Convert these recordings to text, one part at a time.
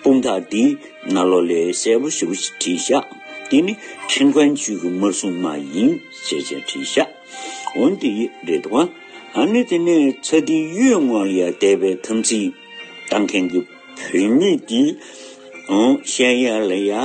དཔུང་ཐག་འདི་ན་ལོ་ལེགས་གསལ་པོ་ཞིག་བྲིས་ཤག་འདི་ནི་ཁྲིན་ཀོན་ཆུས་ཀྱི་དམར་སྲུང་མ་ཡིན་ཞེས་བྱས་བྲིས་ཤག་འོན་ཏེ་རེད་དོ། ཨ་ནི་དེ་ནས་ཚ་ཏི་གཡུལ་ངོ་ལ་དད་པའི་དམ་ཚིག་གཏང་མཁན་གྱི་བོད་མི་འདི་ཤེས་ཡག་ལ་ཡག།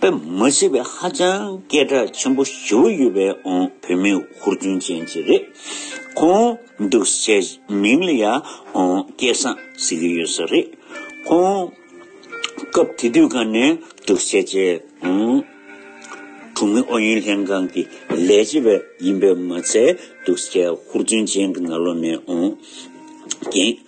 པའི་མ་ཤེས་པའི་ཧ་ཅང་སྐད་གྲགས་ཆེན་པོ་ཞུ་ཡོད་པའི་ཨོང་བོད་མི་ཧུར་བརྩོན་ཅན་ཅིག་རེད། ཁོང་འདུག་སའི་མིང་ལ་ཡང་ཨོང་སྐལ་བཟང་ཟེར་གྱི་ཡོད་ས་རེད། ཁོང་སྐབས་དེ་དུས་ག་ནས་འདུག་སའི་ཆེད་ཨོང་གྲོང་མི་ཨུ་ཡོན་ལྷན་ཁང་གི་ལས་བྱེད་པ་ཡིན་པས་མ་ཚད་འདུག་སའི་ཧུར་བརྩོན་ཅན་གྱི་ནག་ལོ་ནས་ཨོང་རྒན།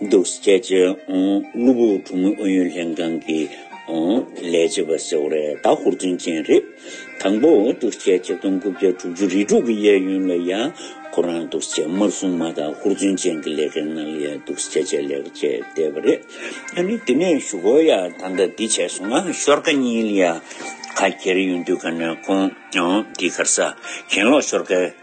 འདུག་རྒྱལ་སྤྱིའི་གློ་བུར་གྲོས་མོལ་ཨུ་ཡོན་ལྷན་ཁང་གི་ལས་བྱེད་པ་ཟེར་བ་རེ་ད་ཧུར་བརྩོན་ཅན་རེད། དང་པོ་འདུག་རྒྱལ་སྤྱི་སྟོང་དགུ་བརྒྱ་དྲུག་ཅུ་རེ་དྲུག་གི་གཡས་གཡོན་ལ་ཡང་ཁོ་རང་འདུག་རྒྱལ་དམར་སྲུང་མ་དང་ཧུར་བརྩོན་ཅན་གྱི་ལས་ཀའི་ནང་ཡང་འདུག་རྒྱལ་ཆེད་ལས་ཀ་བྱས་བསྡད་པ་རེད། ཨ་ནི་དེ་ནས་ཞུ་གོ་ཡ་ད་ལྟ་འདི་བྱས་སོང་ང་ཤོར་ཀ་གཉིས་ལ་ཡང་ཁ་གྱེར་ཡོང་དུས་ག་ནས་ཁོང་འདི་གར་ས་གྱེན་ལོག་ཤོར་ཀ།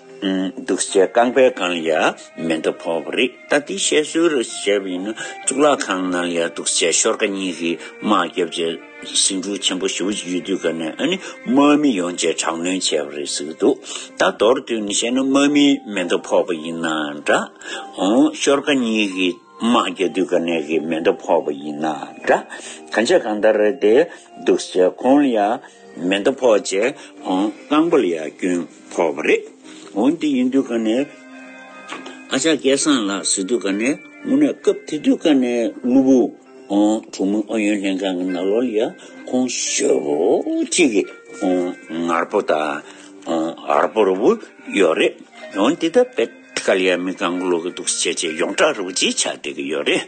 འདུག་སྤྱད་རྐང་པའི་སྒང་ཡ་མེ་འདབ་ཕོག་པ་རེད་ད་དེ་བཤད་སྲོལ་རེད་བཤད་པ་ཡིན་ན་གཙུག་ལག་ཁང་ནང་ཡ་འདུག་སྤྱད་ཤོར་ཀ་གཉིས་ཀྱི་དམག་རྒྱབ་རྗེས་སེང་འབྲུག་ཆེན་པོ་ཞུ་ཡུལ་དུས་སྐབས་ནས་ནི་དམག་མི་ཡོང་རྗེས་དྲག་གནོན་བྱས་པ་རེད་ཟེར་གྱི་འདུག་ད་མདོར་བསྡུས་ནས་བཤད་ན་དམག་མིའི་མེ་འདབ་ཕོག་པ་ཡིན་ན་འདྲ་འོང་ཤོར་ཀ་གཉིས་ཀྱི་དམག་རྒྱ་དུས་སྐབས་ནས་ཀྱི་མེ་འདབ་ཕོག་པ་ཡིན་ན་འདྲ་གང་བྱས་གང་ལྟར་རེད་དེ་འདུག་སྤྱད་ཁོང་ལ་ཡ་མེ་འདབ་ཕོག་རྗེས་རྐང་པ་ལ་ཡ་བསྐྱོན། ཐོག་པ་རེད། འོན་ཏེ་ཡིན་དུས་ཀ་ནས་ཨ་ཅག་སྐལ་བཟང་ལགས་ཟེར་དུས་ཀ་ནས་སྔོན་ནས་སྐབས་དེ་དུས་ཀ་ནས་དངུལ་བུ། དྲུག་མོ་ཨུ་ཡོན་ལྷན་ཁང་གི་ནག་ལོར་ཡ་ཁོང་ཞོལ་བོ་གཅིག་གི་ངར་པོ་དང་ཨར་པོ་རུ་བོ་ཡོད་རེད། འོན་ཏེ་ད་བེད་ཀ་ལ་ཡ་མི་གང་གི་ལོ་གི་འདུག་སྤྱད་ཆེད་ཡོངས་གྲགས་རུ་བོ་གཅིག་ཆགས་བསྡད་ཀྱི་ཡོད་རེད།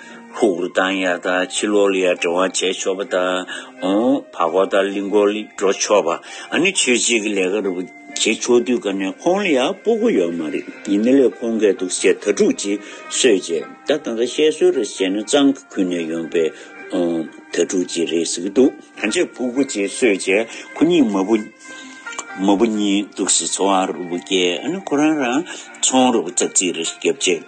ཕུག་རོན་དང་ཡར་དག་ཕྱི་ལོག་ལ་ཡར་འགྲོ་བར་བྱས་ཆོག་པ་དང། བར་སྐོར་དང་གླིང་སྐོར་ལ་འགྲོ་ཆོག་པ། ཨ་ནི་ཆོས་བྱེད་ཀྱི་ལས་ཀ་རུ་བྱེད་ཆོག་དུས་ཀ་ནས་ཁོང་ལ་ཡང་སྤོ་སྒོ་ཡོད་མ་རེད་ཡིན་ན་ལས་ཁོང་འགལ་འདུག་ཞེས་དྭ་ཕྲུག་ཅིག་གསོད་རྗེས་ད་ད་ད་བཤད་སྲོལ་རེད་བཤད་ན་གཙང་གི་ཁུལ་ནས་ཡོང་པའི་དྭ་ཕྲུག་ཅིག་རེད་ཟེར་གྱི་འདུག། ད་ཆའི་ཕུག་པོ་ཅིག་གསོད་རྗེས་ཁོ་གཉིས་མ་བུ་མ་བུ་གཉིས་འདུག་སའི་ཚོང་བ་རུ་བསྐྱལ་ཨ་ནི་ཁོ་རང་རང་ཚོང་རུ་བཙག་རྩིས་རེ་བརྒྱབ་རྗེས།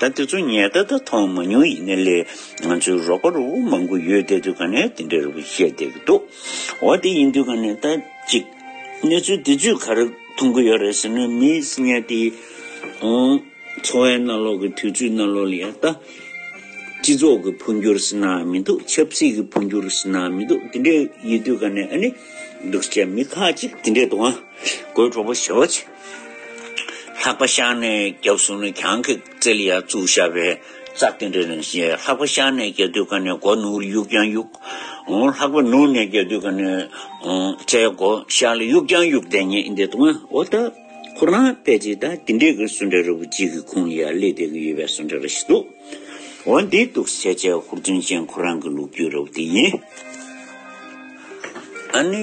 ད་དེ་ཚོ་ངས་ད་ལྟ་མཐོང་མ་མྱོང་ཡིན་ན་ལས་ང་ཚོའི་རོགས་པ་རུ་མང་པོ་ཡོད་དེ་དུས་ག་ནས་དེ་འདྲའི་རུ་པ་བཤད་བསྡད་ཀྱི་འདུག་འོ་དེ་ཡིན་དུས་ག་ནས་ད་ཅིག་གནས་ཚུལ་དེ་ཚོས་ག་རེ་མཐོང་གི་ཡོད་རེད་ཟེར་ན་མིས་ཉལ་ཏེ་འོང། འཚོ་བའི་གནའ་ལོག་གི་དུས་ཚོད་གནའ་ལོག་ལ་ཡང་ལྟ། སྤྱི་ཚོགས་ཀྱི་འཕོ་འགྱུར་ཟེར་ན་མི་འདུག་ཆབ་སྲིད་ཀྱི་འཕོ་འགྱུར་ཟེར་ན་མི་འདུག་དེ་འདྲའི་ཡོད་དུས་ག་ནས་ཨ་ནི་འདུག་བྱས་མི་ཁག་ཅིག་དེ་འདྲའི་དུ་བ་འགོས་གྲོགས་པོ་བྱེད་བྱེད། ལྷག་པ་ཤར་ནས་རྒྱབ་གཟུགས་ནི་གྱང་གི་རྩེ་ལ་ཡར་བཙུགས་ཤར་བས་རྩ་རྟེན་འབྲེལ་རིང་ཞེས་ལྷག་པ་ཤར་ནས་རྒྱབ་དུས་ཀ་ནས་སྒོ་ནུར་གཡུག་ཀྱང་གཡུག། ལྷག་པ་ནུར་ནས་རྒྱབ་དུས་ཀ་ནས་རྩའི་སྒོ་ཤར་ལ་གཡུག་ཀྱང་གཡུག་བདེན་གཉིས་འདི་དང་འོ་ད་ཁོ་རང་དཔེ་ཅི་ལྟ་དེ་འདྲའི་གི་སུ་འདྲ་རི་བོ་གཅིག་གི་ཁུང་ལ་ཡར་སླེབས་བསྡད་གི་ཡོད་པའི་སུ་འདྲ་ར་ཞིག་འདུག་འོ་འདི་འདུག་སེར་བྱེས་ཧུར་བརྩོན་ཅན་ཁོ་རང་གི་ལུག་ཁྱུ་ར་བོ་དེ་ཡིན། ཨ་ནི།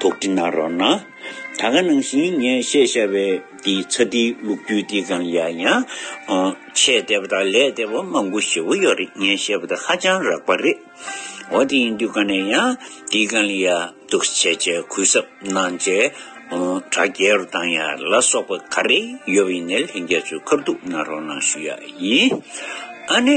དོགས་འདྲི་གནང་རོགས་གནང། ད་ག་ནང་བཞིན་ངས་བཤད་བཞག་པའི་འདི་ཚ་འདི་ལུག་རྒྱུད་འདི་གང་ཡག་ཡང། ཆེས་དད་པ་དང་ལས་དད་པ་མང་པོ་ཞེ་བོ་ཡོད་རེད་ངས་བཤད་པ་དེ་ཧ་ཅང་རགས་པ་རེད། འོ་དེ་ཡིན་དུས་ག་ནས་ཡང་འདི་གང་ཡག་འདུག་བྱས་བྱས་གུས་གསབ་གནང་བྱས་དྲ་རྒྱལ་རུ་བཏང་ཡ་ལ་སོགས་པ་ག་རེ་ཡོད་པ་ཡིན་ནས་ལྷན་རྒྱས་ཚོའི་ཁར་འདུག་གནང་རོགས་གནང་ཞུ་ཡག་ཡིན། ཨ་ནེ།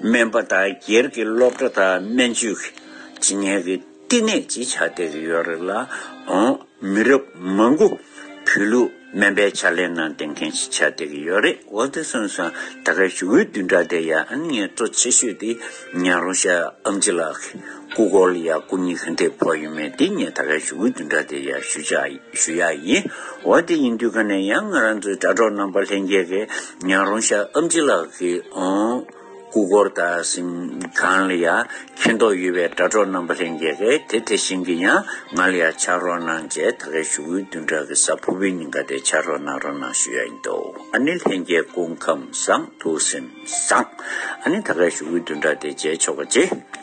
སྨན་པ་དང་སྒེར་གྱི་སློབ་གྲྭ་དང་སྨན་བཅོས་ཀྱི་སྤྱི་གཉེར་གྱི་བསྟི་གནས་བརྗེ་ཆགས་བསྡད་ཀྱི་ཡོད་རེད་ལ། འོན་མི་རབས་མང་པོ་བོད་ལུགས་སྨན་པའི་ཕྱག་ལེན་ནང་འདེམས་མཁན་ཞིག་ཆགས་བསྡད་ཀྱི་ཡོད་རེད་འོ་དེ་སོང་སོང་ད་ག་ཞུ་འོས་བསྡུ་འདྲ་དེ་ཡང་ངས་གཙོ་ཆེ་ཤོས་དེ་ཉང་རོང་ཤར་ཨམ་ཅི་ལགས་ཀྱི་སྐུ་སྐོར་ལ་ཡང་སྐུ་ཉིད་གྷན་དྷིར་ཕོག་ཡོད་མེད་དེ་ངས་ད་ག་ཞུ་འོས་བསྡུ་འདྲ་དེ་ཡང་ཞུ་ཞུ་ཡག་ཡིན་འོ་དེ་ཡིན་དུས་ག་ནས་ཡང་ང་རང་ཚོའི་དྲ་གྲོགས་རྣམ་པ་ལྷན་རྒྱས་ཀྱི་ཉང་རོང་ཤ་ཨམ་ཅི་ལགས་ཀྱིས་ཨོང་སྐུ་འཁོར་དང་གཟིམ་ཁང་ལ་ཡང་མཁྱེན་རྟོགས་ཡོད་པའི་དྲ་གྲོགས་རྣམ་པ་ལྷན་རྒྱས་ཀས་དེ་དེ་བཞིན་གྱི་ཡང་ང་ལ་ཡང་ཕྱག་རོགས་གནང་བཅས་ད་གའི་ཞུ་དགོས་བདུན་ཕྲག་གི་ས་ཕུར་བའི་ཉིན་ག་དེ་ཕྱག་རོགས་གནང་རོགས་གནང་ཞུ་ཡ་ཡིན་འདུག་ཨ་ནི་ལྷན་རྒྱས་སྐུ་ཁམས་བཟང་ཐུགས་སེམས་བཟང། ཨ་ནི་ད་གའི་ཞུ་དགོས་བདུན་ཕྲག་དེ་མཇལ་ཆོག་པ་བྱེད།